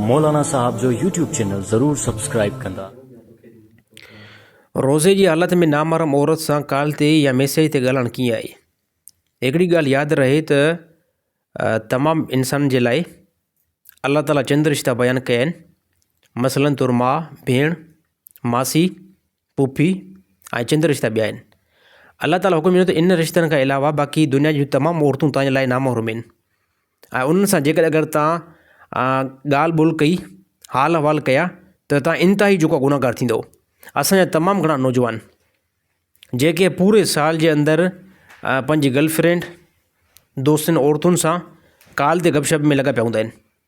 مولانا صاحب جو YouTube channel ضرور سبسڪرائب ڪندا. روزي جي حالت ۾ نامحرم عورت سان ڪال تي يا ميسيج تي ڳالهائڻ ڪيئن آهي؟ هڪڙي ڳالهه ياد رهي ته تمام انسانن جي لاء الله تعالي چند رشتا بيان ڪيا آهن مثلا طور ماء، ڀيڻ، ماسي، پڦي ۽ چند رشتا ٻيا آهن. الله تعاليٰ حڪم ڏنو ته انهن رشتن کان علاوه باقي دنيا جون تمام عورتون توهان جي لاء نامحرم آهن ۽ انهن سان جيڪڏهن اگر توهان ڳالهه ٻولهه ڪئي حال احوال ڪيا ته توهان انتهائي جوکا گنهگار ٿيندو اسانجا تمام گهڻا نوجوان جيڪي پوري سال جي اندر پنهنجي گرل فرينڊ دوستن عورتن سان ڪال تي گپ شپ ۾ لڳا پيا هوندا آهن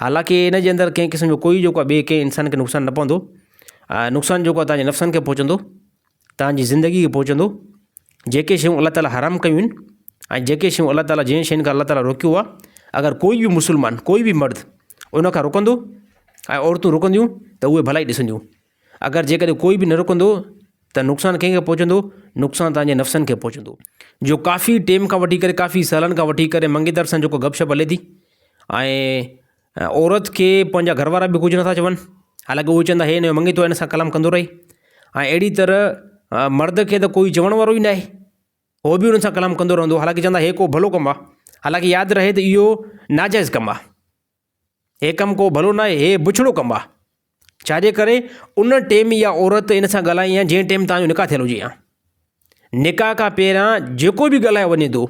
حالانڪه ان جي اندر ڪنهن قسم جو ڪوئي جيڪو آهي ٻئي ڪنهن انسان کي نقصان نه پوندو ۽ نقصان جيڪو آهي تنهنجي نفسن کي پهچندو تنهنجي زندگي کي پهچندو جيڪي شيون الله تعالٰي حرام ڪيون آهن ۽ جيڪي شيون الله تعالٰي جنهن شين کان الله تعالٰي روڪيو آهي اگر ڪوئي به مسلمان ڪوئي به مرد ان کان روڪندو ۽ عورتون روڪنديون ته اهي ڀلائي ڏسنديون اگر جيڪڏهن ڪوئي به نه رڪندو ته نقصان ڪنهن کي پهچندو؟ نقصان تنهنجي نفسن کي پهچندو. جو ڪافي ٽيم کان وٺي ڪري ڪافي سالن کان وٺي ڪري منگيتر سان جيڪو گپ شپ هلي ٿي ۽ عورت کي پنهنجا گهر وارا به ڪجهه نٿا چون حالانڪه اهي چوندا هي هنجو منگيتو هن سان ڪلام ڪندو رهي ۽ اهڙي طرح مرد کي ته ڪوئي چوڻ وارو ئي نه آهي هو به هن سان ڪلام ڪندو رهندو حالانڪه چوندا هي ڪو ڀلو ڪم آهي حالانڪه ياد رهي ته اهو ناجائز ڪم آهي هي ڪم ڪو ڀلو ناهي، هي بڇڙو ڪم آ. ڇا جي ڪري ان ٽيم اها عورت ان سان ڳالهائي ها جنهن ٽيم توهان جو نڪاح ٿيل هجي ها. نڪاح کان پهريان جيڪو به ڳالهايو وڃي ٿو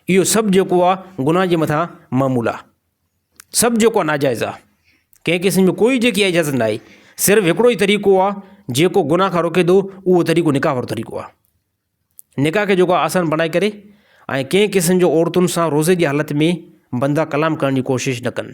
اهو سڀ جيڪو آ گناهه جي مٿان معمول آ. سڀ جيڪو آ ناجائز آ. ڪنهن قسم جو ڪوئي جيڪي اجازت ناهي. صرف هڪڙو ئي طريقو آ جيڪو گناهه کان روڪي ٿو اهو طريقو نڪاح وارو طريقو آ. نڪاح کي جيڪو آسان بڻائي ڪري ۽ ڪنهن قسم جو عورتن سان روزي جي حالت ۾ بندرا ڪلام ڪرڻ جي ڪوشش نه ڪن.